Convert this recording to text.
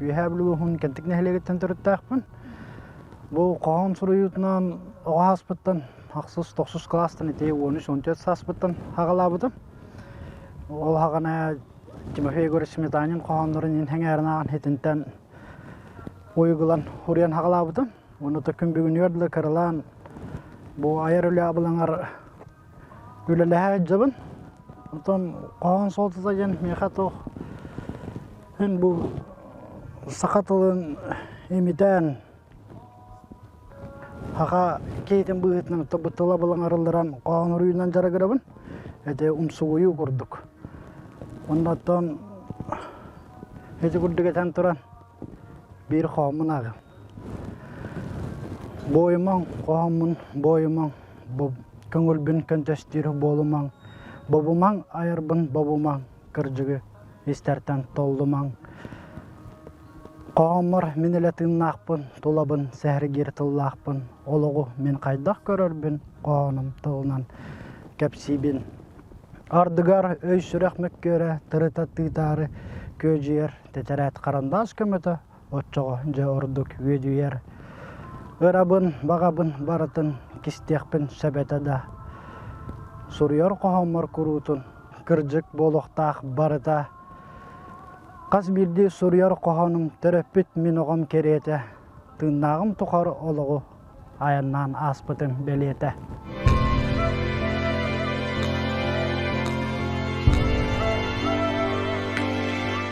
Үөһээ Бүлүү улууһун Кэнтик нэһилиэгиттэн төрүттээхпин. Бу хоһоон суруйуутунан оҕо ааспыттан ахсыс тохсус кылаастан ити он үс он төрт сааспыттан аҕалаабытым. Ол аҕана Тимофей Егорович Сметанин хоһооннорун иһин сэҥээрэн ааҕан итинтэн уйгулан уруйан аҕалаабытым. Уонна то күн бүгүнүгэр да кыралаан бу айар үлэ абылаҥар үлэлэһэ сылдьабын оттон хоһоон суолтата диэн миэхэ туох мин бу саха тылын имитэн саха киһитин быһыытынан оттон тыла былаҥырылларан хоһоон уруйунан дьарыгырабын ити умсугуйуу курдук онно оттон ити курдук этэн туран биир хоһоммун ааҕыам Буойумаҥ, хоһоммун буойумаҥ, көҥүлбүн көнтөстүүр буолумаҥ, бобумаҥ, айарбын бобумаҥ, кырдьыгы истэртэн толлумаҥ. Хоһоммор мин илэ тыыннаахпын, тулабын сэһэргиир тыллаахпын, олоҕу мин хайдах көрөрбүн хоһоном тылынан кэпсиибин. Ардыгар өй-сүрэх мөккүөрэ, тырыта тыытаары күөдьүйэр тэтэрээт харандаас көмөтө оччоҕо дьэ ордук үөдүйэр ырабын баҕабын барытын кистиэхпин сэбэтэ да суруйар хоһооммор куруутун кырдьык буолуохтаах барыта хас биирдии суруйар хоһоонум төрөппүт мин оҕом кэриэтэ тыыннааҕым тухары олоҕу айаннаан ааспытым бэлиэтэ